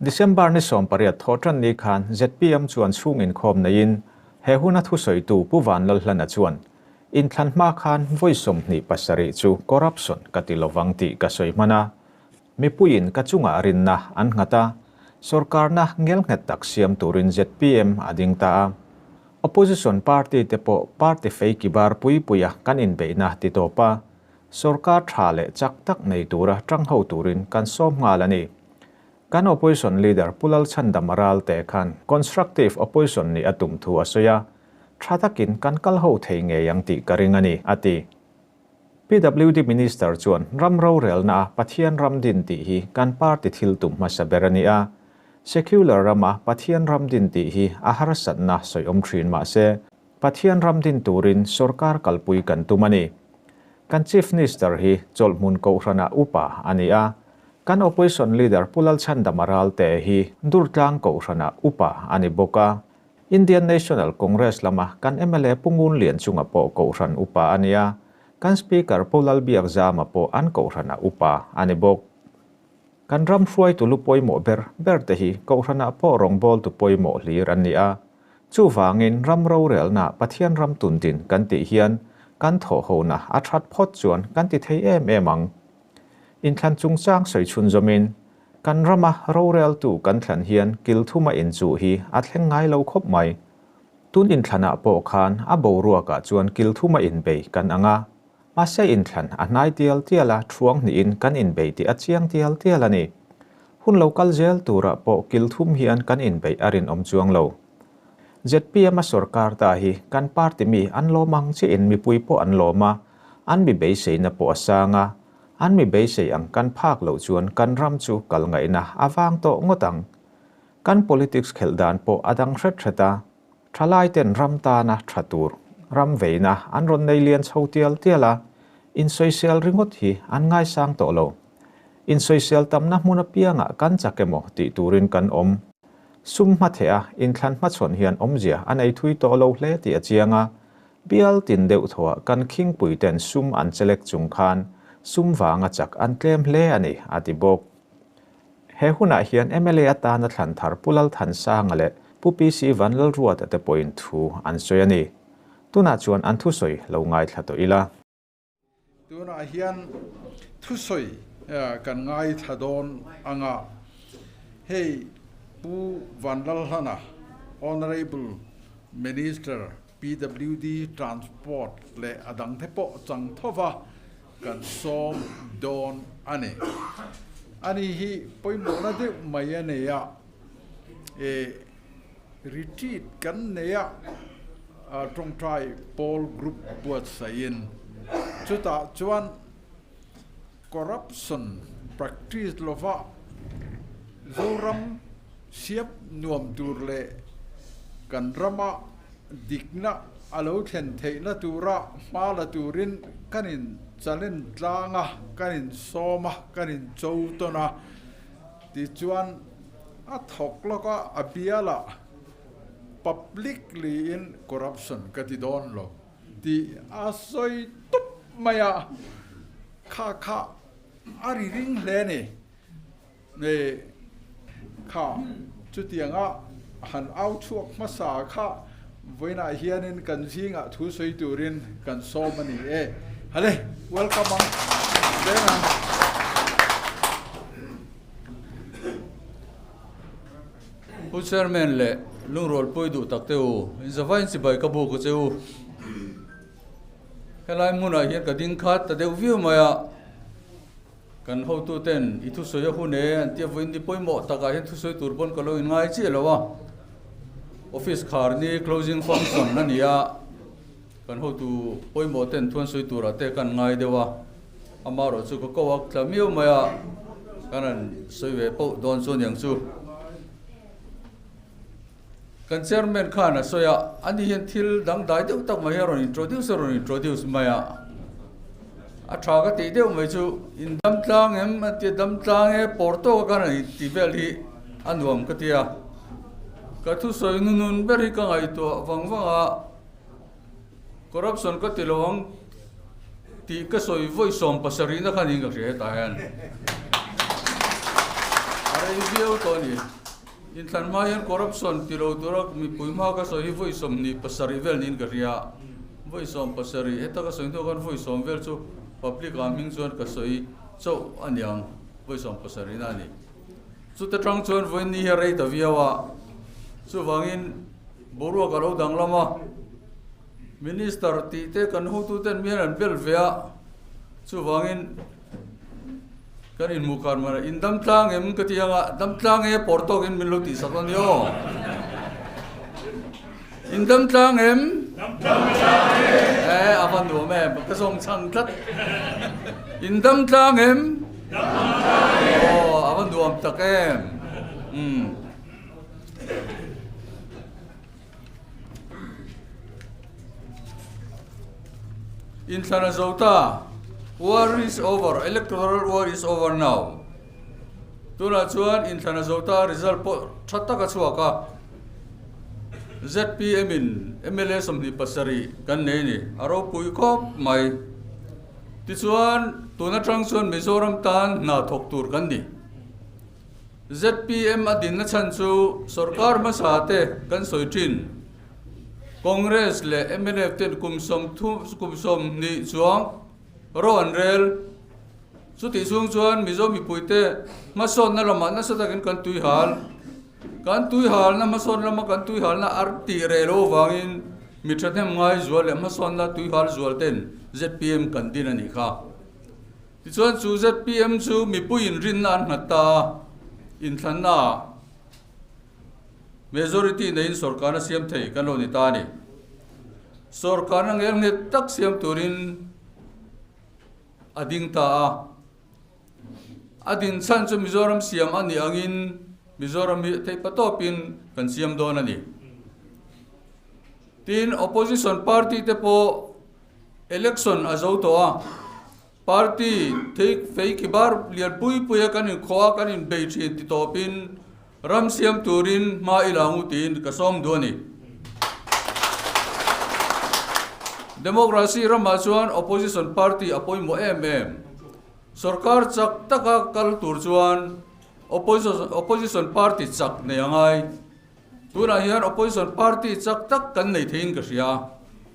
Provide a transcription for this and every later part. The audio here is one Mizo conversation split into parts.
December ni sawm pariat thawhṭan ni khan ZPM chuan chhung inkhawm neiin he huna thusawitu Pu Van Lalhlana chuan, In thlan hma khan vawi sawmhnih pasarih chu corruption ka ti lovang tih ka sawi hman a. Mipuiin ka chungah rinna an nghat a, sorkarna ngelnghet tak siam turin zpm a ding ta a. Opposition party te pawh party fei kibar pui puia kan inbeihna ti tawp a, sorkar tha leh chak tak nei tura ṭang ho turin kan sawm nghal a ni. Kan opposition leader Pu Lalchhandam a ral teh khan constructive opposition nih a tum thu a sawi a, ṭha takin kan kal ho thei ngei ang tih ka ring a ni, a ti. PWD Minister chuan ram rorelna a Pathian ram din tih hi kan party thil tum hmasa ber a ni a. Secular rama Pathian ram din tih hi a harsatna sawiawm thin mah se, Pathian ram din turin sorkar kalpui kan tum a ni. Kan Chief Nister hi chawlhmun Kohhrana upa a ni a. Kan Opposition Leader Pu Lalchhandama Ralte hi Durtlang Kohhrana upa a ni bawk a. Indian National Congress lama kan mla Pu Ngunlian chunga pawh kohhran upa a nia, kan Speaker Pu Lalbiak Zama pawh an kohhranah upa a ni bawk. Kan ram hruaitu lu pawimawh ber ber te hi kohhranah pawh rawngbawltu pawimawh hlir an ni a, chuvangin ram rorelna Pathian ram tun din kan tih hian kan thawhhona a that phawt chuan kan ti thei em em ang. Inthlan chungchang sawi chhunzawmin Kan rama roreltu kan thlan hian kilthuma in chuh hi a thleng ngai lo khawp mai. Tun inthlanah pawh khan a boruakah chuan kilthuma inbei kan ang a, mahse inthlan a hnai tial tial a thuang hnihin kan inbei tih a chiang tial tial a ni. Hun lo kal zel turah pawh kilthum hian kan inbeih a rinawm chuang lo. ZPM-a sorkar ta hi kan party mi an lawm ang chiahin mipui pawh an lawm a, an mi beiseina pawh a sang a, An mi beisei ang kan phak loh chuan kan ram chu kal ngaihna a vang tawh ngawt ang. Kan politics khelh dan pawh a dang hret hret a, thalaiten ram tana tha tur ram veina an rawn nei lian chho tial tial a, insawisel ringawt hi an ngaisang tawh lo. Insawisel tamna hmun apiangah kan chak emaw tih turin kan awm. Sum hmatheha inthlan hmachhawn hian awmzia a nei thui tawh lo hle tih a chiang a, Bial tin deuh thawha kan khingpui ten sum an che lek chung khan sum vanga chak an tlem hle a ni, a ti bawk. He hunah hian mla atana thlan thar Pu Lalthansanga leh Pu PC Van Lalruata te pawhin thu an sawi a ni. Tunah chuan an thusawi lo ngaithla tawh ila. Tunah hian thusawi kan ngaithla dawn anga hei Pu Vanlalhlana, Honourable Minister PWD, Transport leh a dangte pawh chang thova kan sawm dawn a ni. Ani hi pawimawhna deuh mai a nei a. e retreat kan nei a ah tawngtai pawl group buatsaih in chutah chuan corruption practice lova zoram siam nuam tur leh kan rama dik na a lo thlen theih na tura hma la turin kan in challenge tlang a kan in sawm a kan in cho tawn a. Tichuan, a thawk lawka a biala publicly in corruption ka ti dawn lo tih a sawi tup mai a, kha kha a ri ring hle ni. Ni kha chutianga han auchhuak hmasa kha. Vawiinah hianin kan zingah thu sawi turin kan sawm a ni e. Hale, welcome ang. Veng ang. U Chairman leh Lungrawlpuii duh takte u, inzava inchibai ka buk u che u. Helai hmunah hian ka ding khat ta deuh viau mai a. Kan hotu ten i thusawi a hun e an ti a vawiin ni pawimawh takah hian thusawi tur pawn ka lo in ngai chiah lo a. Office khar ni closing function a ni a, kan hotu pawimawh ten thuan sawi turah te kan ngai deuh a, ama erawh chu ka ko a tla miau mai a, ka rawn sawi ve poh dawn chuan niang chu. Kan chairman khan a sawi a, ani hian thil dangdai deuh tak mai a rawn introduce a rawn introduce mai a, a tha ka tih deuh mai chu in damtlang em a ti a damtlang e pawr tawka khan a inti vel hi a nuam ka tia ka thusawi nunun ber hi ka ngaihtuah vang vang a. Corruption ka ti lo ang tih ka sawi vawi sawm pasarihna kha niin ka hria hetah hian a rei viau tawh a ni. Inthlan hma hian corruption ti lo tura mipui hma ka sawi hi vawi sawm hnih pasarih vel niin ka hria a, vawi sawm pasarih heta ka sawi hnu khan vawi sawm vel chu public ah hming chuan ka sawi chauh a niang vawi sawm pasarihna a ni. Chute tang chuan vawiin ni hi a rei ta viau a, chuvangin. Boruak alo danglam a, Minister tih te kan hotu ten mian an bel ve a, chuvangin kan in hmuh khan mana in damtlang em ka ti anga damtlang e por tawk in min lo ti sak ani aw. In damtlang em? Damtlang e. Eh, a man nuam em, ka zawng chang tlat. In damtlang em? Damtlang e. Oh, a man nuam tak em. Um. Inthlan a zo ta. War is over. Electoral war is over now. Tuna chuan inthlan a zo ta result pawh tha taka chhuak a. ZPM in MLA sawmhnih pasarih kan nei ni. A ropui khawp mai. Tichuan tun atang chuan Mizoram tan hna thawk tur kan ni. Zpm a dinna chhan chu sorkar hmasa te kan sawi thin. Congress leh mlf ten kum sawm kum sawm hnih chuang ro an rel. Chutih chung chuan Mizo mipui te hmasawnna lamah nasa takin kan tuihal. Kan tuihalna hmasawn lama kan tuihalna ar tih reh loh vangin mi thahnem ngai zual leh hmasawnna tuihal zual ten zpm kan din a ni kha. Tichuan chu zpm chu mipui inrinna an nghat ta a, inthlanna ah majority neiin sorkarna siam thei kan rawn ni ta a ni. Sorkarna ngelnghet tak siam turin a ding ta a, a din chhan chu Mizoram siam a nih angin Mizoram hi theipatawpin kan siam dawn a ni. Tin opposition party te pawh. Election a zo tawh a, party thei feiki bar lian pui pui a kan inkhawh a, kan inbei thin ti tawpin ram siam turin hma i la ngu tiin ka sawm duh a ni. Democracy ramah chuan opposition party a pawimawh em em. Sorkar chak taka kal tur chuan opposition party chak nei a ngai. Tunah hian Opposition Party chak tak kan nei theiin ka hria.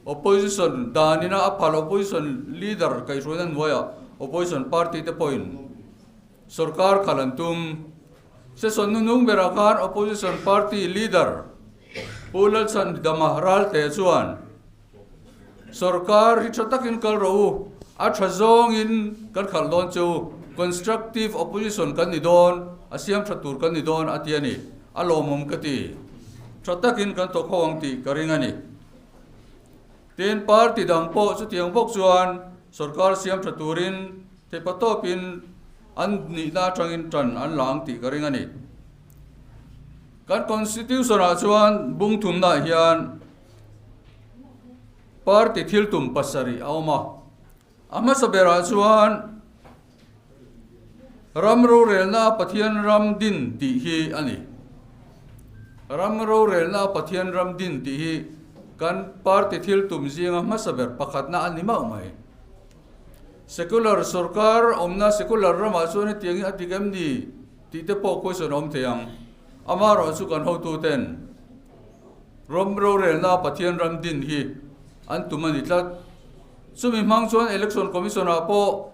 Opposition danin a a phal Opposition Leader kaih hruainan hnuaia Opposition Party te pawhin sorkar khal an tum. Session nunung berah khan Opposition Party Leader Pu Lalchhantgama Ralteh chuan Sorkar hi tha takin kal rawh u, a tha zawngin kan khalh dawn che u, constructive opposition kan ni dawn, a siam tha tur kan ni dawn a ti a ni. A lawmawm ka ti. Tha takin kan thawkho ang tih ka ring a ni. Tin, party dang pawh chutiang bawk chuan sorkar siam tha turin theipa tawpin an nihna atangin tan an la ang tih ka ring a ni. Kan Constitution-ah chuan bungthumnah hian Party thiltum pasarih a awm a. A hmasa berah chuan Ram rorelna a Pathian ram din tih hi a ni. Ram rorelna a Pathian ram din tih hi kan party thiltum zinga hmasa ber pakhatna a ni mauh mai. Secular sorkar awmna secular ramah chuan hetiang hi a dik em ni tih te pawh question a awm thei ang. Amaherawhchu kan hotuten. Ram rorelna a Pathian ram din hi an tum a ni tlat. Chumi hmang chuan Election Commission-ah pawh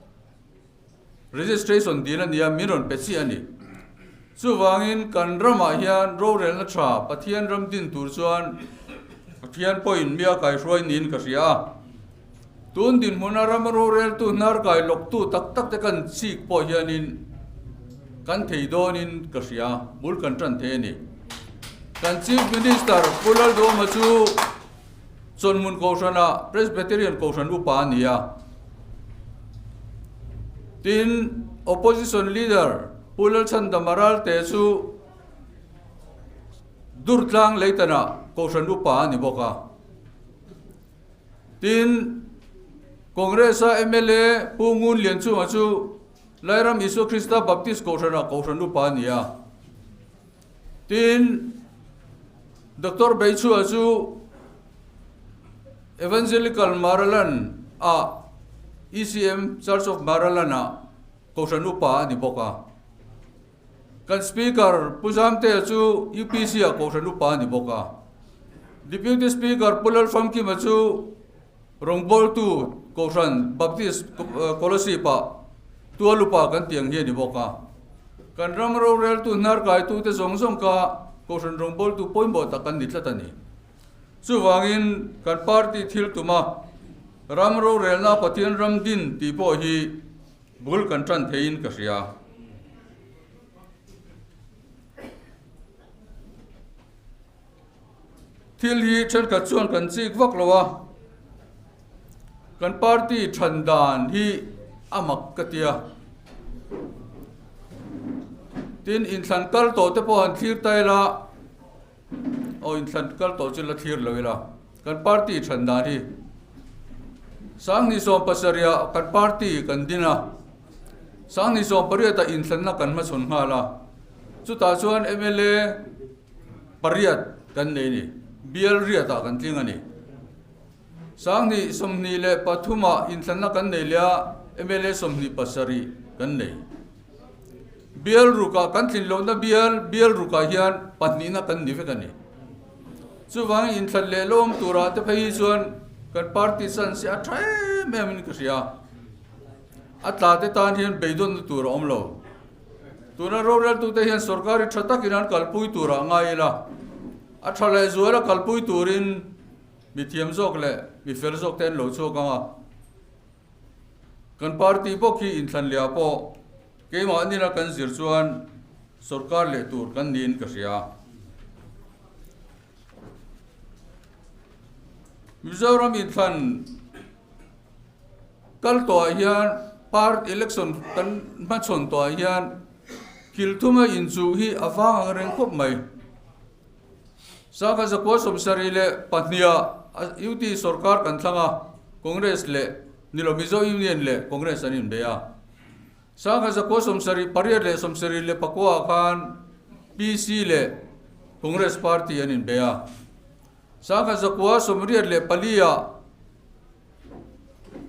registration dil a nia, min rawn pe chiah a ni. Chuvangin kan ramah hian rorelna tha Pathian ram din tur chuan Pathian pawhin mia kaihruai niin ka hria a. Tun dinhmuna rama roreltu hnarkai lawktu tak takte kan chik pawh hianin kan thei dawnin ka hria, bul kan tan thei a ni. Kan Chief Minister Pu Laldawma chu Chawnhmun Kohhrana Presbyterian Kohhran upa a ni a. Tin, Opposition Leader Pu Lalchhanda Maralte chu Durtlang Leitanah Kohhran upa a ni bawk a. Tin, Congress-a mla Pu Ngun Lian chungah chu Lairam Isua Krista Baptist Kohhranah Kohhran upa a ni a. Tin, Doctor Beichua chu Evangelical Maraland-ah, ECM, Church of Maraland-ah Kohhran upa a ni bawk a. Kan Speaker Pu Zamtea chu UPC-a kohhran upa a ni bawk a. Deputy Speaker Pu Lalfamkima chu rawngbawltu kohhran Baptist Scholarship-ah tual upa kan tih ang hi a ni bawk a. Kan ram roreltu hnarkaitute zawng zawng kha kohhran rawngbawltu pawimawh tak an ni tlat a ni. Chuvangin kan party thil tuma ram rorelna Pathian ram din tih pawh hi, Bul kan tan thei in ka hria. Thil hi thenkhat chuan kan chik vak lo a, kan party than dan hi a mak ka tia, tin in thlan kal tawh te pawh han thlir ta ila, Aw inthlan kal tawh chu la thlir lo ila kan party chhan dan hi Sangni sawm pasaria kan party kan din a Sangni sawm pariat a inthlanna kan hma chhun nghal a chutah chuan MLA pariat kan nei ni bial riat a kan tling a ni Sanghnih sawmhnih leh pathuma inthlanna kan nei leh a, mla sawmhnih pasarih kan nei. Bial ruka kan thlin lohna bial, bial ruka hian pahnihna kan ni vek a ni. Chuvangin inthlan leh lawm tura te phei hi chuan kan party san se a tha em em in ka hria. A tlate tan hian beidawnna tur a awm lo. Tuna roreltute hian sorkari tha takin an kalpui tura ngai ila, a tha leh zuala kalpui turin, Mi thiam zawk leh mi fel zawk te an lo chhuak ang a, kan party bawk hi inthlan leh-ah pawh keimah nila kan zir chuan sorkar leh tur kan niin ka hria. Mizoram inthlan kal tawhah hian part election kan hmachhawn tawhah hian kilthuma inchuh hi a vang ang reng khawp mai. Sangha zakua sawmsarih leh pahniha UTI sawrkar kan thlang a, Congress leh nilo Mizo Union leh Congress an inbe a. Sangha zakua sawmsarih pariat leh sawmsarih leh pakua ah khan PC leh Congress party an inbe a. Sangha zakua sawmriat leh pali ah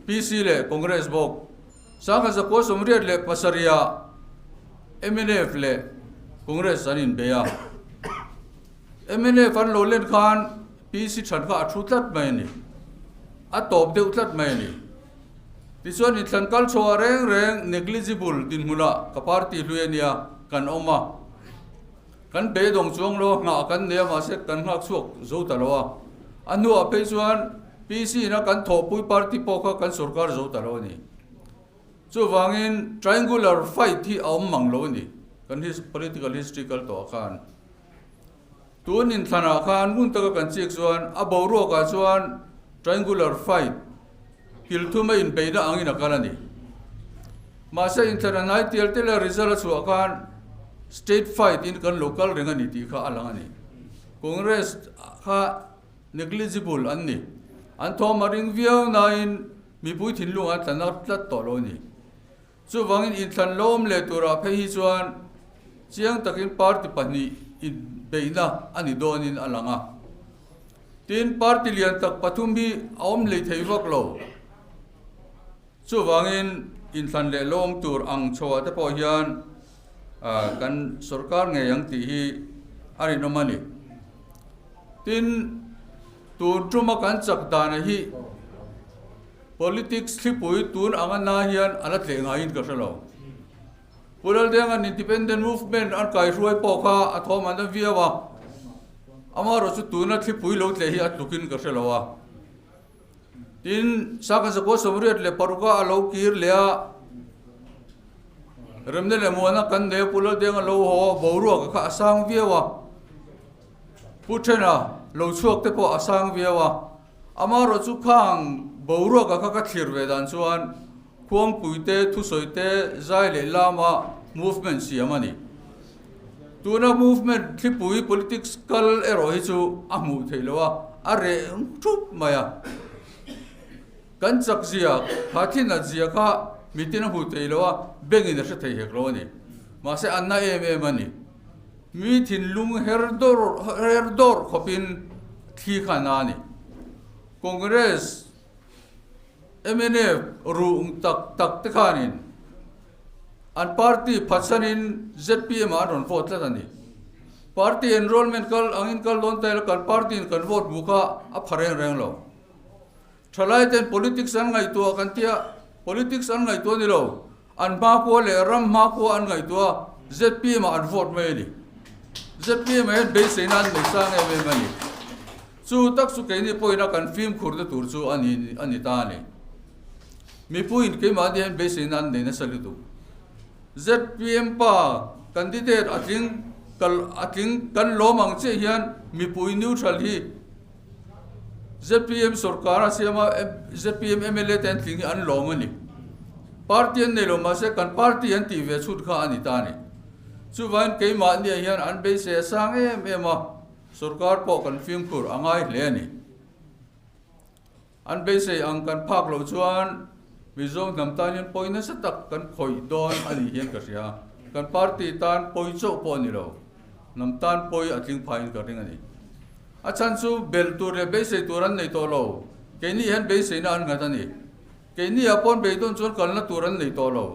PC leh Congress bawk. Sangha Zakua Sawmriat leh Pasaria mnf leh Congress an inbei a. mnf an lo len khan PC than kha a thu tlat mai a ni. A tawp deuh tlat mai a ni. Tichuan in thlan kal chhuah reng reng negligible dinhmuna ka party hlui a nia kan awm a. Kan pe dawng chuang lo a nghah kan nei a mah se kan nghak chhuak zo ta lo a. A hnuah phei chuan PC in a kan thawhpui party pawh kha kan sorkar zo ta lo a ni. Chuvangin triangular fight hi a awm mang lo a ni kan political history kal tawhah khan. Tun inthlanah khan hmun taka kan chik chuan a boruakah chuan triangular fight, Pilthum a inbeih na angin a kal a ni. Mahse, inthlata hnai tial te leh result a chhuah khan state fight in kan lo kal reng a ni tih kha a lang a ni. Congress kha negligible an ni. An thawm a ring viau nain mipui thinlung an tla nat tlat tawh lo a ni. Chuvangin inthlan lawm leh turah phei hi chuan chiang takin party pahnih inbeihna a ni dawnin a lang a. Tin, party lian tak pathum hi a awm lei thei vak lo. Chuvangin inthlan leh lawm tur ang chhuah te pawh hian kan sorkar ngei ang tih hi a rinawm a ni. Tin, tur tuma kan chak dan a hi. Politics thlipui tun ang a nai hian a la tleh ngaiin ka hre lo. Pu Laldenga'n Independent Movement an kaihruai pawh kha a thawm an la viau a, amaherawh chu tuna thlipui lo tleh hi a tlukin ka hre lo a. Tin, Saka Zakua Sawmriat leh paruk-a a lo kir leh a, remna leh muana kan nei a, Pu Laldenga lo haw a, boruaka kha a sang viau a, Pu Thena lo chhuak te pawh a sang viau a, Amah rawh chu khang boruaka kha ka thlir ve dan chuan khuangpui te, thusawi te, zai leh lama movement siam a ni. Tuna movement thlipui politics kal erawh hi chu a hmuh theih lo a, a reh thup mai a. Kan chak zia, khathinat zia kha mitin a hmuh theih lo a, bengin a hre thei hek lo a ni. Mahse a na em em a ni. Mi thinlung her dawr her dawr khawpin thli kha an la ni. Congress, mnf ruhng tak tak te khanin an party phatsanin ZPM-ah an rawn vote tlat a ni. Party enrollment kal angin kal dawn ta ila kan party-in kan vote bu kha a pha reng reng lo. Thalai ten politics an ngaihtuah kan tia, politics an ngaihtuah ni lo, an hma khua leh ram hma khua an ngaihtuah a, zpm ah an vote mai a ni. Zpm ah hian beisei na an nei sang em em a ni. Chu tak chu keini pawhin a kan fimkhur na tur chu a ni a ni ta a ni. Mipuiin keimahni hian beisei na an nei nasa lu duh. Zpm pa candidate a tling kal a tling kan lawm ang chiah hian mipui neutral hi, Zpm sorkar a siam a, zpm mla te an tling hi an lawm a ni. Party an nei lo mahse kan party an tih ve chhun kha a ni ta ni. Chuvain keimahnia hian an beisei a sang em em a, sorkar pawh kan fimkhur a ngai hle a ni. An beisei ang kan phak lo chuan Mizo hnam tan hian pawi nasa tak kan khawih dawn a nih hian ka hria. Kan party tan pawi chauh pawh a ni lo. Hnam tan pawi a tling phaiin kan ring a ni. A chhan chu bel tur leh beisei tur an nei tawh lo. Keinih hian beiseina an nghat a ni. Keinih a pawn bei dawn chuan kalna tur an nei tawh lo.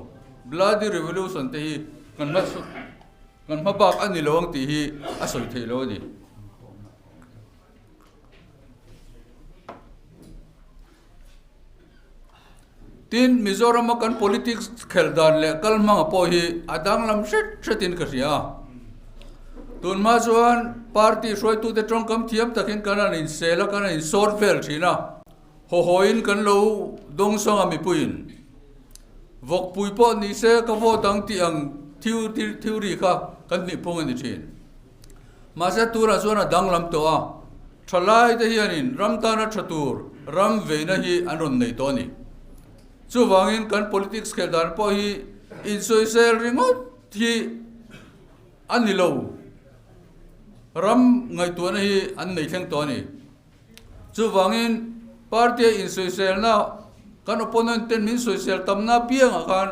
Bloody revolution te hi kan hma kan hma bak a ni lo ang tih hi a sawi theih lo a ni. Tin, Mizoram-a kan politics khel dan leh kal hmanga pawh hi a danglam hret hretin ka hria. Tun hma chuan party hruaitute tawngkam thiam takin kan rawn insel a, kan rawn insawt vel thin a. Haw hawiin kan lo dawng sawng a mipuiin. Vawkpui pawh nise ka vote ang tih ang thil thil thil ri kha kan hnihphung a ni thin. Mahse tunah chuan a danglam tawh a, tha laite hianin ram tana tha tur ram veina hi an rawn nei tawh a ni. Chuvangin kan politics khelh dan pawh hi insawisel ringawt hi a ni lo, ram ngaihtuahna hi an nei thleng tawh a ni. Chuvangin, party-a insawiselna, kan opponent-ten min sawisel tamna apiangah khan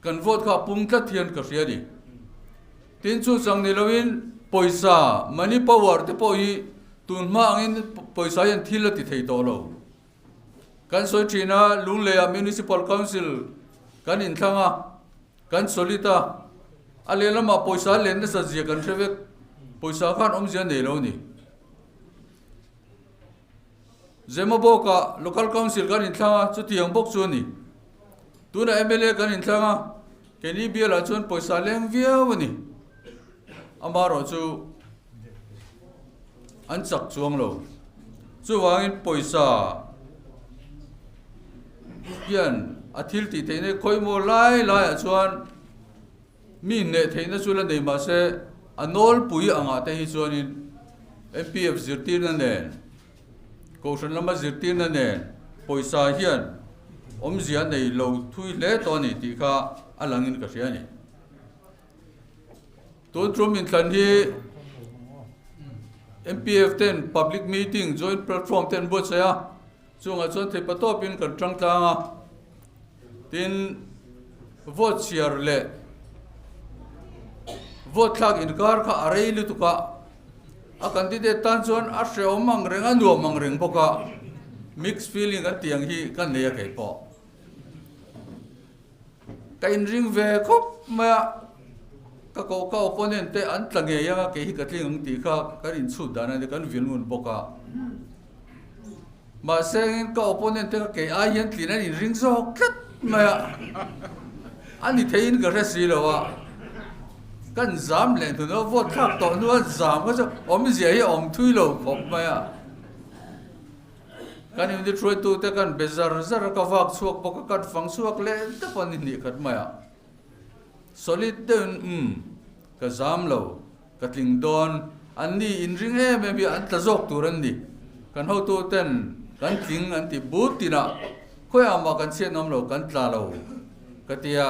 kan vote kha a pum tlat hian ka hria a ni. Tin, chutiang ni loin pawisa, money power, te pawh hi tun hma angin pawisa hian thil a ti thei tawh lo. Kan sawi thin a, Lunglei-ah municipal council kan inthlang a. Kan solid a, a lehlamah pawisa len nasa zia kan hre vek, pawisa khan awm zia nei lo ni. Zemabawka Local Council kan inthlâng a, chuti ang bawk chu a ni. Tunah mla kan inthlâng a, Kenny Biala chuan pawisa leng viau a ni. Amaherawhchu. An chak chuang lo. Chuvangin pawisa hian a thil tih theihna hi khawi maw lai laiah chuan mi hneh theihna chu la nei mah se a nawlpui angah te hi chuanin MPF zirtirna nen Kohhran lama zirtirna nen pawisa hian awmzia nei lo thui hle tawh a ni tih kha a langin ka hria a ni. Tun chu min thlan hi MPF ten public meeting joint platform ten buatsaih a, chungah chuan theipa tawpin kan tang tlang a, tin vote chhiar leh vote thlak inkar kha a rei lutuk a, a candidate tan chuan a hreawm ang reng a nuam ang reng bawk a, mixed feeling kan tih ang hi ka nei a keipawh. Ka inring ve khawp mai a, ka ko ka opponent te an tla ngei anga kei hi ka tling ang tih kha kan inchhut dan a nia, kan vil ngun bawk a. Mahse angin ka opponent te kha kei ai hian tlin an inring zawk tlat mai a, a ni theihin ka hre si lo a, kan zam leh hnu loh vote thlak tawh hnuah zam kha chu awmzia hi a awm thui lo khawp mai a. Kan inithruaitute kan be zar zar a, ka vak chhuak bawk a, kan fang chhuak leh deuh a ni hnih khat mai a. Solid deuhin, um, ka zam lo, ka tling dawn, anni in ring em em hi an tla zawk tur an ni. Kan hotu ten kan tling an ti but tinah, khawiah mah kan chhiatnawm lo, kan tla lo, ka ti a.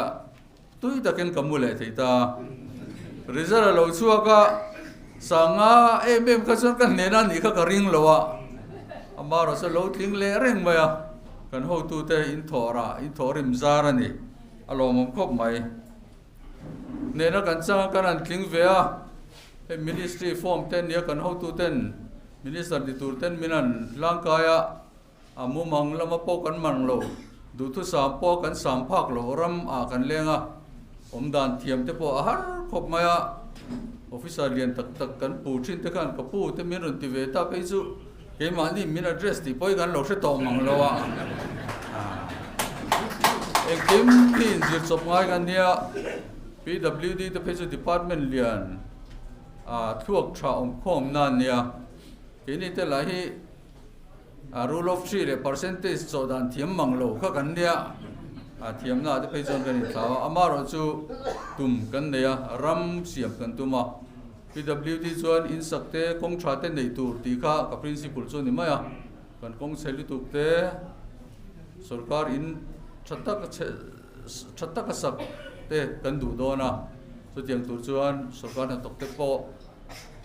Tui takin ka mu leh thei ta a, result a lo chhuak a, sanga em em kha chuan ka hnen a nih kha ka ring lo a, amarawh saw lo tling leh reng mai a, kan hotute in thawh rah in thawh rim zar a ni, a lawmawm khawp mai. Hnen a kan chang a kan han tling ve a, hei ministry form te a nia kan hotuten minister ni tur ten min han hlangkai a, A mumang lama pawh kan man lo, duhtu sam pawh kan sam phak loh ram ah kan leng a, awm dan thiam te pawh a har khawp mai a, officer lian tak tak kan pu thin te khan ka pu te min rawn ti ve ta phei chu keimahni min address tih pawh hi kan lo hre tawh mang lo a, engkim khi in zir chawp ngai ka nia, PWD te phei chu department lian ah thluak tha awm khawm nan nia, keini te lah hi Rule of three leh percentage chawh dan thiam mang lo kha kan nia. Thiamna te phei chuan kan inthlau a, amarawh chu tum kan nei a, ram siam kan tum a. PWD chuan in sak te, kawng tha te neih tur tih kha ka principle chu a ni mai a. Kan kawng chhe lutuk te sorkar in tha taka chhe, tha taka sak te kan duh dawn a. Chutiang tur chuan sorkar hnathawk te pawh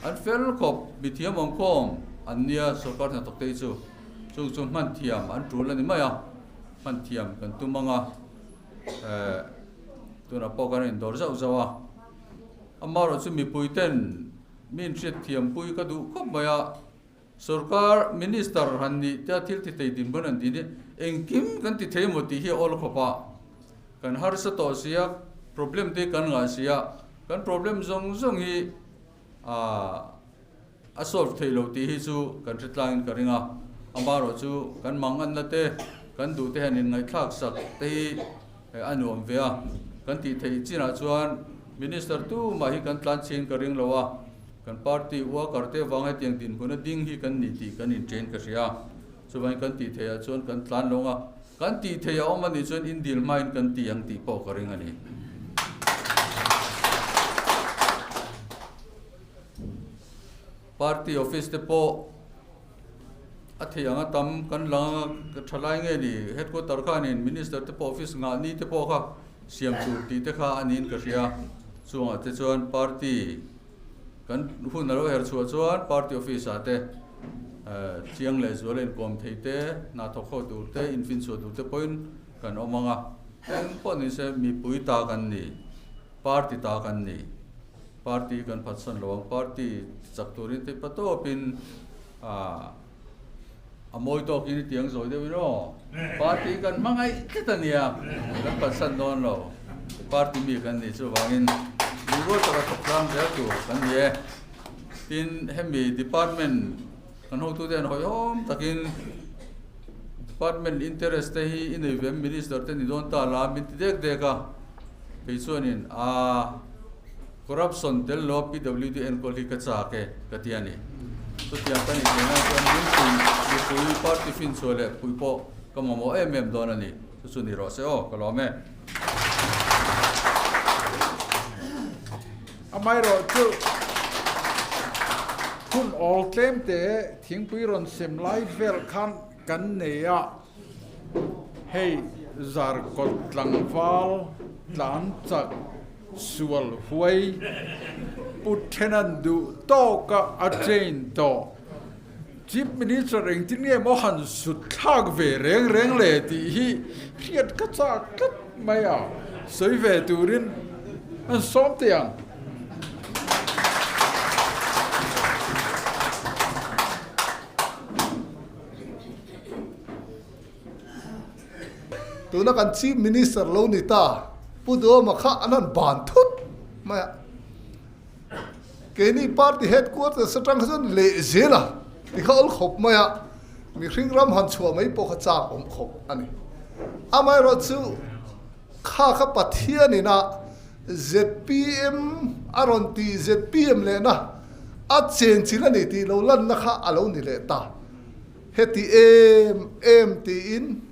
An fel khawp, mi thiam awm khawm an nia sawrkar hnathawk te hi chu. Chung chu hman thiam an tul a ni mai a, hman thiam kan tum ang a, eh, tunah pawh kan indawr zauh zauh a. Amaherawhchu mipuiten min hriat thiampui ka duh khawp mai a. Sorkar, Minister han nih tia thil ti thei din pawn an ti ni. Engkim kan ti thei emaw tih hi a awl khawp a, kan harsa tawh sia, problem te hi kan ngah sia, kan problem zawng zawng hi aah a solve theih lo tih hi chu kan hre tlangin ka ring a, amarawh chu kan mangatna te, kan duh te hian inngaithlak sak te hi a nuam ve a, kan tih theih chinah chuan Minister tumah hi kan tlan chhin ka ring lo a. Kan party ua Karte vang hetiang dinhmun a ding hi kan ni tih kan inchen ka hria. Chuvain kan tih theih ah chuan kan tlan lo nga. Kan tih theih a awm a nih chuan indil hma in kan ti ang tih pawh ka ring a ni. Party office te pawh a theih ang a tam kan lang anga ka tha lai nge ni? Headquarter khan in minister te pawh office nghah ni te pawh kha siam tur tih te kha a niin ka hria. Chuang ah te chuan party. Kan hun a lo her chhuah chuan party office ah te chiang leh zual a inkawm thei te, hna thawk ho tur te, infin chhuah tur te pawhin kan awm ang a. Eng pawh ni se mipui ta kan ni, party ta kan ni, party kan phatsan lo ang, party chak turin tei pa tawpin a, a mawi tawkin i tiang zawih deuhin aw, party kan hmangaih tlat a nia, kan phalsat dawn lo, party mi kan ni chuvangin rilrual taka thawk tlang zel tur kan ni e, tin hemi department kan hotu te an hawihawm takin department interest te hi i nei ve em minister te ni dawn ta la min ti dek dek a, kei chuanin aa. Corruption tel lawm PWD enkawl hi ka chak e ka ti a ni. Chutiang ka nih theihna chuan Limpuii mipui party finchhuah leh phui pawh ka mamawh em em dawn a ni. Chu chu ni rawh se aw ka lawm e. Amaherawh chu hun awl tlem te thingpui rawn sem lai vel khan kan nei a. Hei zar kawt tlangval tlan chak sual huai Pu Then an duh tawk a, a train tawh. Chief Minister engtin nge maw han sut thlak ve reng reng le tih hi hriat ka chak tlat mai a, sawi ve turin an sawm teh ang. Tuna kan Chief Minister lo ni ta, Pu Dawma kha an han ban thut mai a. Keini Party Headquarters atang kha chuan lehzir a ti kha awl khawp mai a, mihring ram han chhuah mai pawh kha chak awm khawp a ni. Amaherawhchu, Kha kha Pathian in ah zpm a rawn tih zpm leh na a chen chin a ni tih lo lan na kha a lo ni leh ta. Heti em em ti in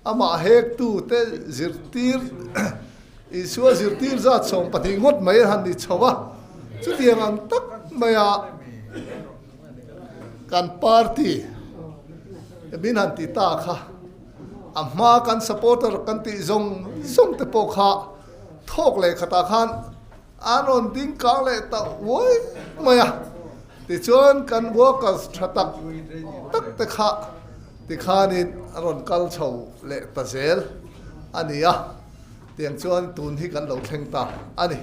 a mah hek tu te zirtir Isua zirtir zat sawm pahnih ngawt mai a han ni chho a. Chu tiang ang tak mai ah kan party min han ti ta kha. A hma kan supporter kan tih zawng zawng te pawh kha thawk leh khatah khan an rawn ding kang leh ta uai mai a, tichuan kan workers tha tak tak te kha tikhanin an rawn kal chho leh ta zel a ni a, tiang chuan tun hi kan lo thleng ta a ni.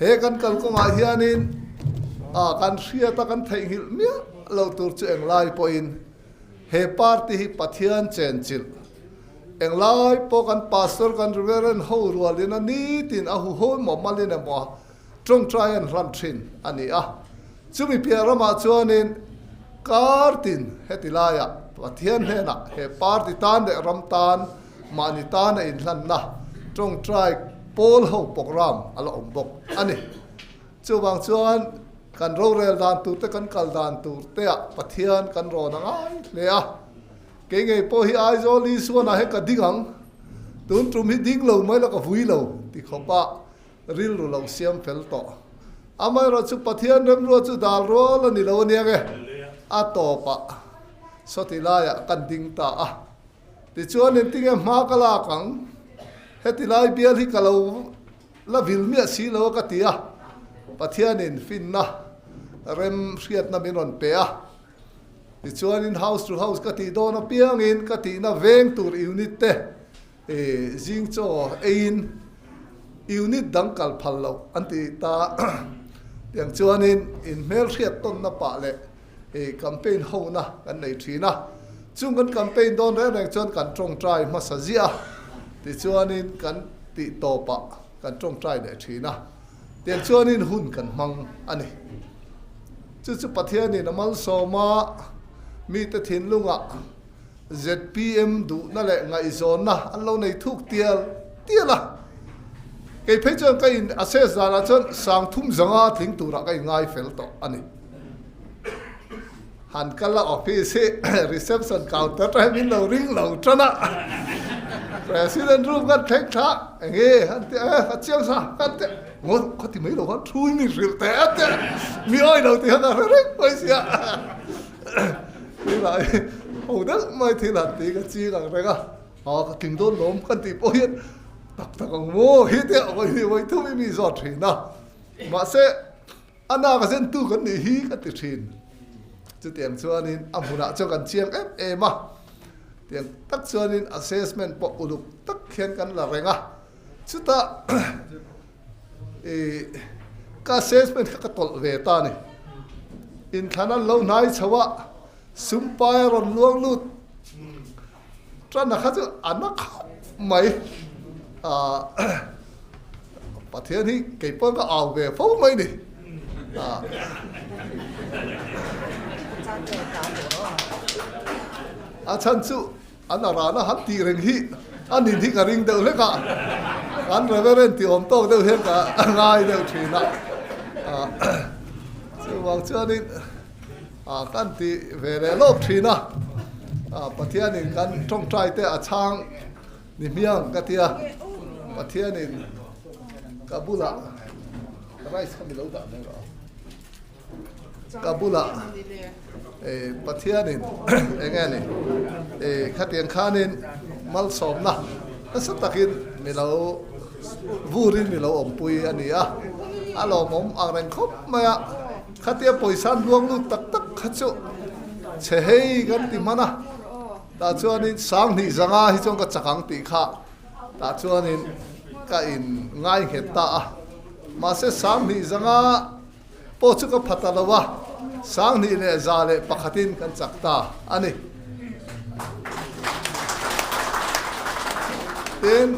He kan kal kawngah hianin kan hriata kan theihnghilh miah lo tur chu englai pawhin, He party hi Pathian chenchilh englai pawh kan Pastor kan Reverend ho rual ina nitin a huhawm maw malin emaw a tawngtai an hlan thin a ni a. Chumi piah ramah chuanin kar tin heti laia Pathian hnena he party tan leh ram tan mahni tan a inhlanna tawngtai pawl ho programme a la awm bawk a ni. Chuvang chuan kan rorel dan turte kan kal dan turtea Pathian kan rawn a ngai hle a. Kei ngei pawh hi Aizawl Isuana he ka ding ang, tun tum hi ding lo mai la ka vui lo ti khawpa rilru lo siam fel tawh. Amaherawhchu chu Pathian remrua chu dal rual a ni lo aniang e, a tawpah sawti laiah kan ding ta a. Tichuan engtin nge hma ka lak ang? Heti lai bial hi ka lo la vil miah si lo a ka ti a, Pathianin finna rem hriatna min rawn pe a. Tichuan in house to house ka tih dawn apiang in ka tihna veng tur unit te zing chaw ei in unit dang kal phal loh an ti ta tiang chuan in in hmel hriat tawnna pah leh Campaign hona kan nei thin a, chung kan campaign dawn reng reng chuan kan tawngtai hmasa ziah a tichuanin kan tih tawpah kan tawngtai leh thin a, tiangchuanin hun kan hmang a ni. Chu chu Pathianin a malsawm a, mite thinlungah zpm duhna leh ngaihzawnna an lo nei thuk tial tial a. Kei phei chuan ka in assess danah chuan sangthum zanga tling turah ka in ngaifel tawh a ni. han kal a office hi reception counter aṭang hian min lo ring lo ṭan a, president ru ngat thek tha enge han ti a, a chiang sa han ti a, maw khawti mai lo khan thu imin hrilh teh a ti a, mi awi lo ti kha ka hre reng mai si a, tunah hi ho deuh mai thil han ti ka ching ang reng a, aw ka tling dawn lo khan tih pawh hian tak tak ang maw hi ti a, awih awih thu imin zawt thin a mahse, A nak a zentu kan nih hi ka ti thin. Chutiang chuanin a hmunah chuan kan chiang em em a. Tiang tak chuanin assessment pawh uluk tak hian kan la reng a. Chutah i ka assessment kha ka tawlh ve ta ni. Inthlana an lo hnai chhoh a, sumpai a rawn luang lut. Chuan kha chu a na khawp mai aah Pathian hi kei pawn ka au ve fo mai ni aah a chhan chu an a rana han tih reng hi a nin hi ka ring deuh hlek a kan Reverend ti awm tawk deuh hian ka ngai deuh thin a aah chuvang chuan in A kan ti ve leh lawk thin a, Pathianin kan tawngtai te a chang ni hmiang ka tia, Pathianin ka bulah rice kha milo dah mai lo a, ka bulah Pathianin eng nge ni khatiang khanin malsawmna nasa takin milo burin milo awmpui a ni a, a lawmawm angreng khawp mai a. Khatia pawisa luang lut tak tak kha chu chhe hei kan ti hman a, tah chuanin Sanghnih zanga hi chuan ka chak ang tih kha tah chuanin ka in ngaihnghet ta a. Mahse Sanghnih zanga pawh chu ka phata lo a, Sanghnih leh za leh pakhatin kan chak ta a ni. Tin.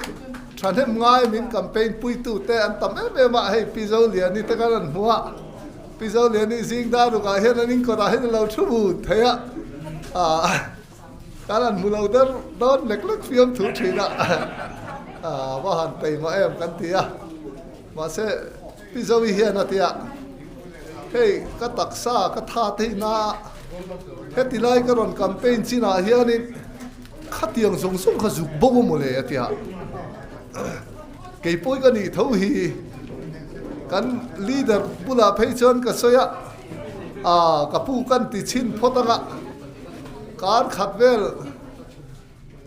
Thahnem ngai min campaign puitu te an tam em em a, hei Pi Zoliani te khan an hmu a, Pi Zoliani zing dar uk ah hian an in kawt ah hian alo thu bu thei a, khan an hmu lo der dawn lek lek fiam thu thin a, va han pei mah em kan ti a, mahse Pizoe hian a tia, Hei, ka taksa ka tha theih na a, heti lai ka rawn campaign chin ah hianin khatiang zawng zawng kha zuk bo bo mawle a tia. Keipawi ka nih tho hi kan leader bulah phei chuan ka sawi a, Aaa, ka pu kan ti chin phawt ang a, kar khat vel,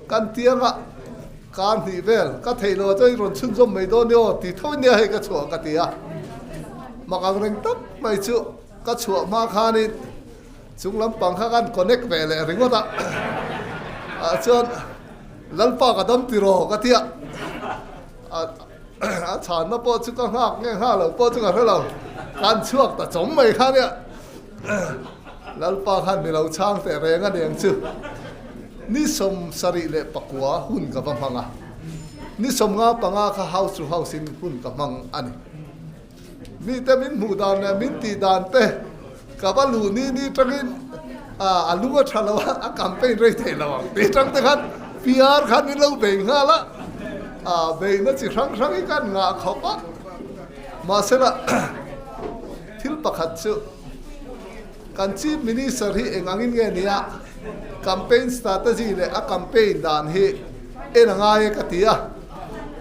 Kan ti ang ah kaa hnih vel ka theih lo chuan i rawn chhun zawm mai dawn i aw ti tho nia hei ka chhuah ka ti a. Mak ang reng tak mai chu ka chhuah hma khan in chung lampang kha kan connect ve leh ringawt a ah chuan Lalpa ka dam tiraw ka ti a. A chhanna pawh chu ka nghak nge nghak lo pawh chu ka hre lo, kan chhuak ta chawm mai khan i a. Lalpa khan mi lo chhang teh reng a ni ang chu. Ni sawm sarih leh pakua hun ka va hmang a, ni sawm nga panga kha house to house in hun ka hmang a ni. Mite min hmuh dan leh min tih dan te ka va luh ni ni tangin aah a lung a tha lo a, a campaign rei theih lo ang tih tang te khan PR khan i lo bei nghal a, aah beihna chi hrang hrangin khan ngah khawp a. Mahsela Thil pakhat chu, kan Chief Minister hi eng angin nge nia campaign strategy leh a campaign dan hi en a ngai e ka ti a,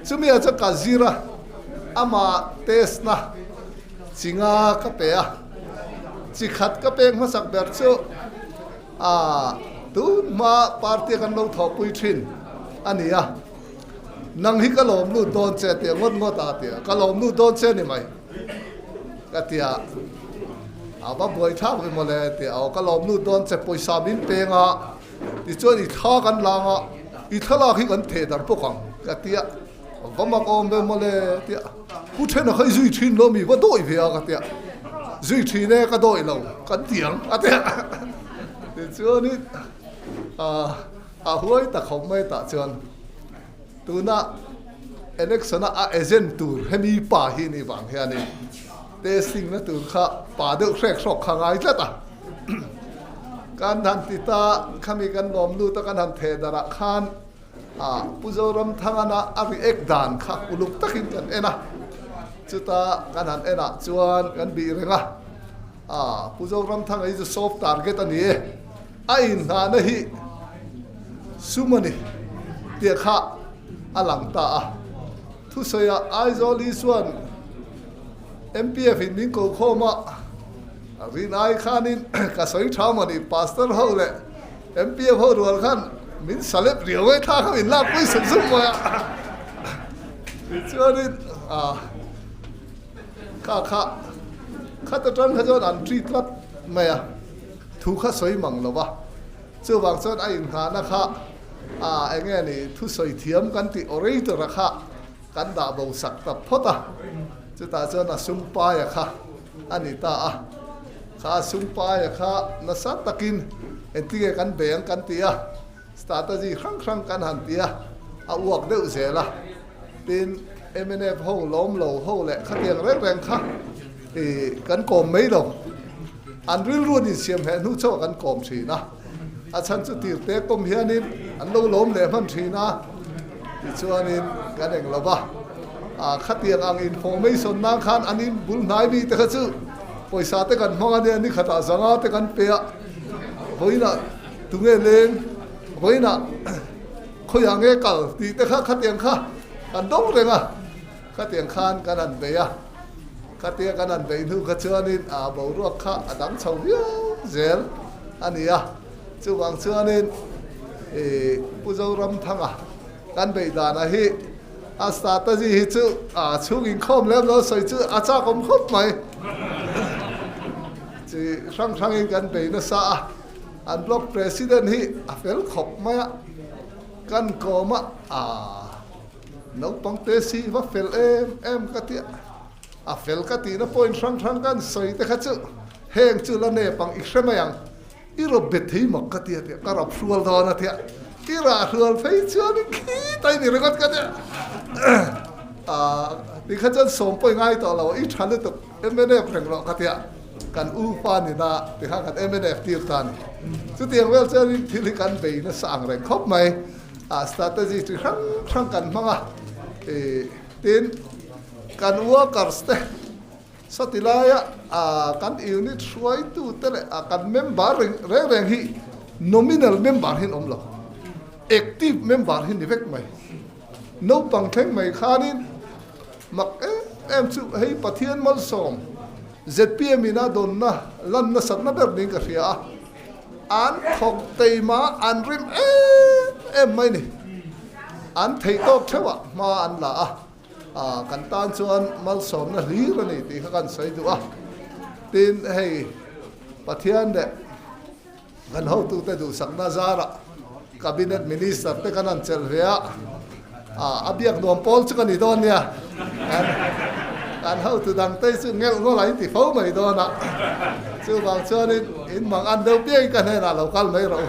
chumi ah chuan ka zir a, amah test na chi nga ka pe a, chi khat ka pek hmasak ber chu tun hma party a kan lo thawhpui thin a nia, nang hi ka lawm lut dawn che a ti a, ngawt ngawt a ka ti a, ka lawm lut dawn che a ni mai. ka ti a, a va buai thlak ve mawle a ti a, aw ka lawmnu dawn che pawisa min peng a, tichuan i thla kan lang a, i thlalak hi kan theh dar bawk ang ka ti a, va mak awm ve mawle a ti a, pu Thena kha i zui thin lo ami va dawi ve a ka ti a, zui thin e ka dawi lo kan ti ang a ti a, tichuan in a huai ta khawp mai tah chuan, Tuna election a a agent tur hemi pa hi ni vang hianin testing na tur kha pa deuh hrek hrawk kha ngai tlat a. Kan han ti ta, khami kan nuam lut a kan han theh darah khan Pu Zoramthangana a react dan kha uluk takin kan en a. Chuta kan han en ah chuan kan bih reng a. A, Pu Zoramthanga hi chu soft target a ni e. A inhnahna hi sum a ni tih kha a lang ta a. Thusawiah Aizawl hi chuan MPF in min kokhawm a, rinai khanin ka sawi tham a ni, Pastor ho leh MPF ho rual khan min salep riau mai thla kha min lakpui sum sum mai a. Tichuanin a. Ka kha khat atang kha chuan an ṭi tlat mai a, thu kha sawi mang lo va. Chuvang chuan a inngahna kha ah eng nge ni thusawi thiam kan tih aw rei tura kha kan dah bo sak ta phawt a. Chutah chuan a sungpaia kha a ni ta a, kha a sungpaia kha nasa takin engti nge kan beng kan ti a, strategy hrang hrang kan han ti a, a uak deuh zel a. Tin, MNF ho, Lawmlo ho leh khatiang reng reng kha kan kawm mai lo. An rilru ni siam hneh hnu chu a kan kawm thin a. A chhan chu tir te kawm hianin an lo lawm leh hman thin a, tichuanin kan eng lo va. Khatiang ang information nan khan an inbul hnai mi te kha chu pawisa te kan hmang ania ni khatah zanga te kan pe a, vawiinah tunge leng, vawiinah. Khawiah nge kal tih te kha khatiang kha kan dawng reng a, khatiang khan kan han beih a, khatia kan han beih hnu kha chuanin aa boruak kha a dang chho viau zel a ni a, chuvang chuanin i Pu Zoramthanga kan beih danah hi a strategy hi chu aa chhung inkhawm lem lo sawi chu a chakawm khawp mai, chi hrang hrangin kan beih nasa a. An block president hi a fel khawp mai a, kan kawm a aah naupang te si va fel em em ka ti a, a fel ka ti na point hrang hrang kan sawi te kha chu heng chu la nep ang i hre mai ang i raw be thei mak ka ti a tia ka rawn hrual dawn a tia i rah hrual phei chuan in khi ta i ni ringawt ka tia aah ti kha chuan sawmpawi ngai tawh lo i tha lutuk. MNF reng rawh ka ti a, kan U Fa ni na ti kha kan MNF tir ta a ni. Chutiang vel chuan ring thil hi kan bei nasa ang reng khawp mai. A strategy chi hrang hrang kan hmang a, tin kan workers te, sawtilaia kan unit hruaitu te leh kan member reng reng reng hi nominal member hi an awm lo, active member hi ni vek mai. Naupang thleng mai khanin. Mak em em chu hei Pathian malsawm zpm in a dawnna lan nasatna ber niin ka hria a, an thawk teima an rim em em mai ni, an theih tawk theuhah hma an la a, kan tan chuan malsawmna hlir a ni tih kha kan sawi duh a, tin hei Pathian leh. Kan hotute duhsakna zarah Cabinet Minister te kan han chelh ve a, a biak nuam pawl chu ka ni dawn nia, kan hotu dangte chu ngelh ngawlh an ti fo mai dawn a, chuvang chuanin in mang an deuh piangin ka hnenah lo kal mai rih u.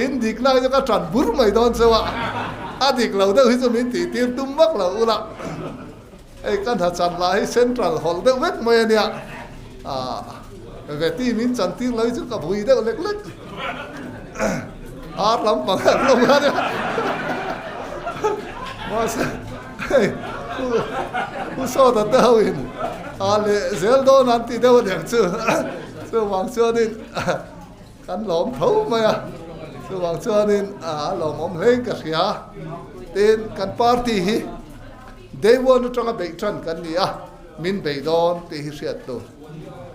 In dik lai chu ka tan bur mai dawn chauh a, a dik lo deuh hi chu min tihtir tum vak lo ula. Hei ka hna chan lah hi central hawlh deuh vek mai a nia, ka ve ti min chan tir lo hi chu ka vui deuh lek lek, ar lam panga an lo ngai nia, mahse hei u sawta te ho in a leh zel dawn an ti deuh aniang chu chuvang chuan in. Kan lawm tho mai a, chuvang chuanin a lawmawm hleng ka hria. Tin, kan party hi day one atanga beih ṭan kan ni a, min bei dawn tih hi hriat hlun.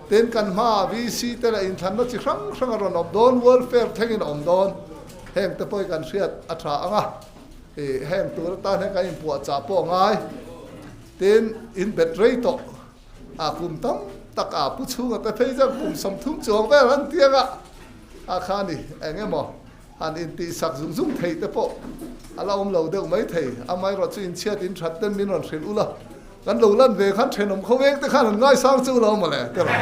Tin, kan hmaah VC te leh inthlanna chi hrang hrang a rawn awm dawn, welfare thlengin a awm dawn, heng te pawhin kan hriat a ṭha ang a. Heng tur atan hian kan inpuahchah pawh a ngai. Tin, inbet rei tawh. A kum tam taka pu chhunga ka phei zar kum sawmthum chuang vel han tiang a, a kha ni eng emaw han in tih sak zung zung thei te pawh a la awm lo deuh mai thei, a mai rawh chu in chhiat in that ten min rawn hrilh u la, kan lo lan ve khan thenawm kho vek te khan han ngai sang che u lo maw le tiraw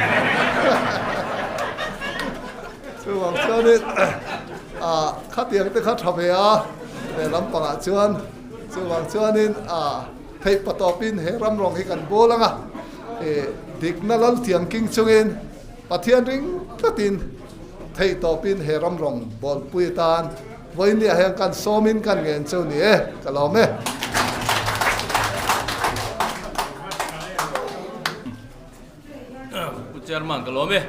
chuvang chuan in a khatiang te kha tha ve a, ve lampang ah chuan chuvang chuan in a. Theih pa tawpin he ram rawng hi kan bâwl anga e dikna lal thiamking chungin Pathian ring tlatin theih tawpin he ram rawng bâwlpui atan vawinia hian kan sâwmin kan ngen chu ni e ka lâwm e. Pu Chairman ka lâwm e.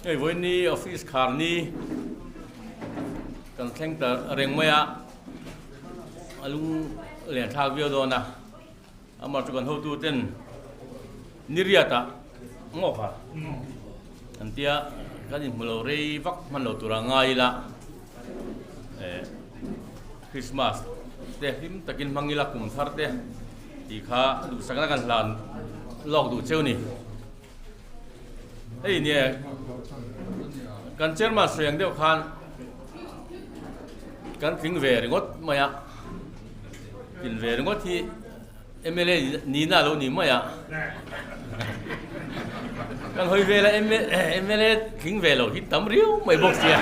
Hei vawini office khâr ni kan thleng ta reng mai a. A lung len thlak viau dawn a, amah chu kan hotu ten Niriata ngawk a kan tia kan inhmu lo rei vak hman lo tura ngai ila eh Christmas te hlim takin hmang ila kum thar te ti kha duhsak na kan hlan lawk duh cheu ni. Hei nia, kan chairman sawi ang deuh khan kan tling ve ringawt mai a. Tling ve ringawt hi MLA nihna lo ni mai a. Kan hawi ve la MLA tling ve lo hi tam riau mai bawk sia.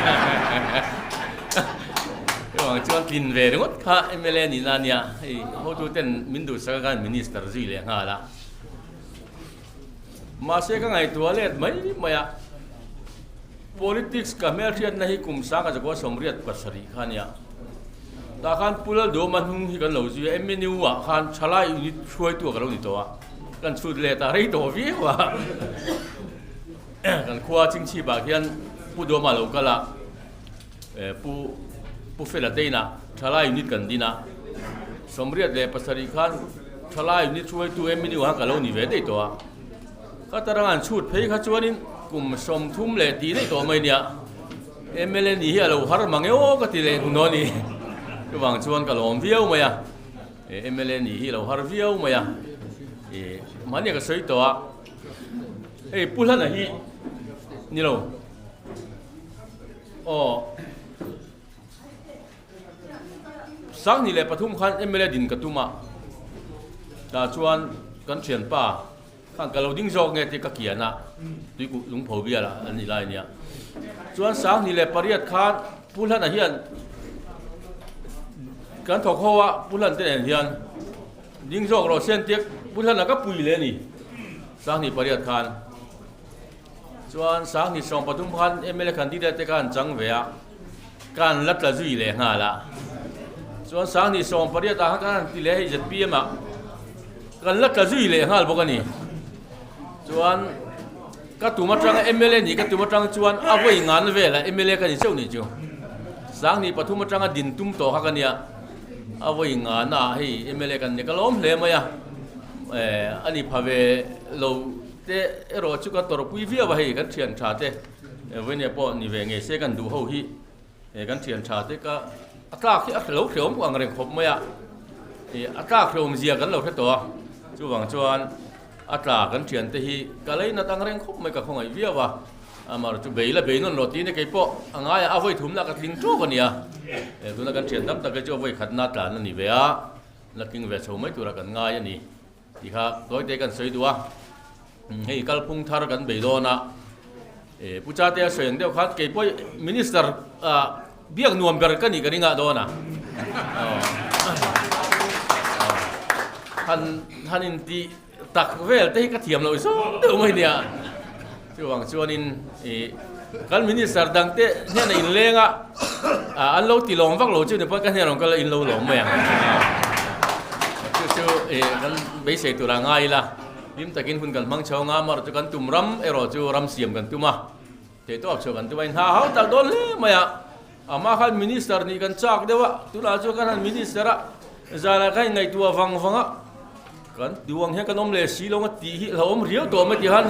Chuan chuan tling ve ringawt kha MLA nihna nia. Hei, hotu ten min duhsaka khan minister zui leh nghal a. Mahse ka ngaihtuah let mai mai a, politics ka hmelhriatna hi kum sanga Jakuaa sawmriat pasarih kha nia. Tah khan Pu Laldawma hnung hi kan lo zui a, MNU ah khan thalai unit hruaitu a ka lo ni tawh a, kan chhut leh ta rei tawh viau a. Kan khua chingchhipah khian Pu Dawma lo kal a. Pu Pu Fela Teina Thalai unit kan din a, Sawmriat leh pasarih khan Thalai unit hruaitu MNU ah ka lo ni ve daih tawh a, ka tarang an chhut phei kha chuanin kum sawm thum leh tih daih tawh mai nia, mla nih hi a lo har mang emaw ka ti leh hnu dawn i, chuvang chuan ka lawm viau mai a, mla nih hi a lo har viau mai a, mahnia ka sawi tawh a, hei Pu Hlana hi ni lo. aw sang ni leh pathum khan mla din ka tuma ta chuan kan thian pa khan ka lo ding zawk nge ti ka kiana tui ku lung pho biala an ni lai nia chuan sang ni leh pariat khan pulhan a hian kan thawk ho a pulhan te nen hian ding zawk ro sen tek pulhan a ka pui le ni sang ni pariat khan Chuan sang ni sawm pathum khan mla candidate te khan chang ve a, khan la tla zui leh nghal a. Chuan sang ni sawm pariat ah khan kan ti leh a hei zpm ah kan la tla zui leh nghal bawk a ni. Chuan ka tum atang mla nih ka tum atang chuan a vawi ngan vel a mla ka ni chauh nih chu. Sang ni pathum atang a din tum tawh kha ka nia, a vawi ngan ah hei mla kan ni ka lawm hle mai a, a ni pha ve lo. Te erawh chu ka tawrhpui viau a hei kan thian tha te vawinia pawh ni ve ngei se kan duh ho hi kan thian tha te ka a tlak hi a lo hleuam pawh ang reng khawp mai a a tlak hleuam zia kan lo hre tawh a chuvang chuan a tlak kan thian te hi ka lei nat ang reng khawp mai ka khawngaih viau a amar chu beila bei nawn lo ti ne kei pawh a ngai a vawi thum na ka tling tawp a nia e tuna kan thian tam tak hi chu a vawi khat na tlan a ni ve a na tling ve chho mai tura kan ngai a ni Tih kha dawite kan sawi duh a, hei kalphung thar kan bei dawn a, eh Pu Chate a sawi ang deuh khan kei pawh Minister biak nuam ber ka nih ka ringah dawn a, han han intih tak vel te hi ka thiam loh zawng deuh mai nia. Chuvang chuanin i kan Minister dang te hnena inleng a an lo ti lawm vak lo chu ni pawn ka hnenah ka lo in lo lawm mai ang chu chu i kan beisei tura ngai ila hlim takin hun kan hmang chho anga amarawh chu kan tum ram erawh chu ram siam kan tum a theih tawk chho kan tum a inha hau tak dawn hle mai a Amah khan Minister nih kan chak deuh a, tunah chuan kan han Minister a, zanah kan ingaihtuah vang vang a, kan ti vang hian kan awm leh si lo a tih hi hlauhawm riau tawh mai tih khan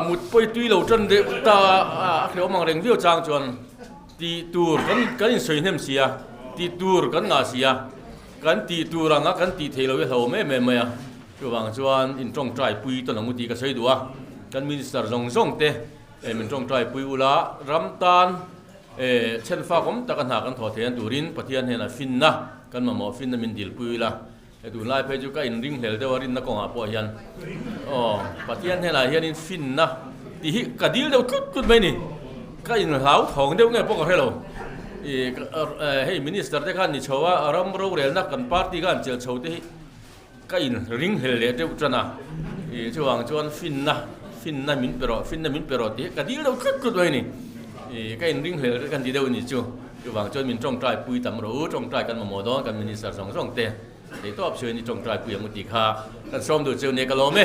mut pawi tui lo tan deuh ta a hlauhawm ang reng viau chang chuan tih tur kan in sawi hnem si a, tih tur kan ngah si a, kan tih tur ang a kan tih theih lo hi hlauhawm em em mai a, chuvang chuan in tawngtai pui ta nawm u tih ka sawi duh a, kan Minister zawng zawng te min tawngtai pui ula ram tan, E. Chhen fak awm tak a hna kan thawh thlen turin Pathian hnenah finna kan mamawh finna min dilpui ila, he tunlai phei chu ka inring hlel deuh a rinna kawngah pawh hian aw Pathian hnenah hianin finna tih hi ka dil deuh tlut tlut mai a ni, ka in hlauthawng deuh nge pawh ka hrelo i, hei Minister te khan ni chhoa ram rorelna kan party khan chelh chhote hi. Ka in ring hel leh deuh tan a, ih chuvang chuan finna finna min pe rawh finna min pe rawh tih ka dil deuh tlut tlut mai a ni, ih ka in ring hel reng ka ni deuh a ni chu, chuvang chuan min tawngtaipuii tam rawh u, tawngtai kan mamawh dawn kan minister zawng zawng te, thei tawp chu a ni tawngtaipuii ang u tih kha kan sawm duh chu nei ka lawm e.